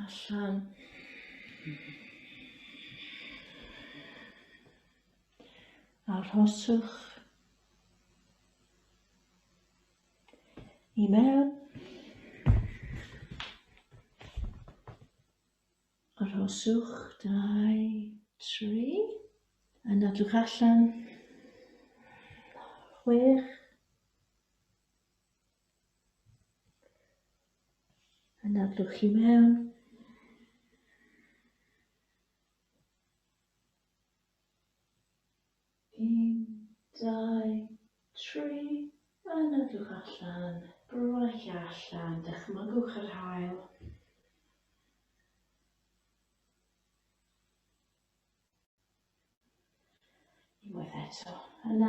allan. Arhoswch i mewn. Arhoswch, dau, tri. Yn adwch allan. Chwech. Yna blwch chi mewn. Un, dau, tri, yna blwch allan, bron eich allan, dychmygwch yr hael. Unwaith eto, yna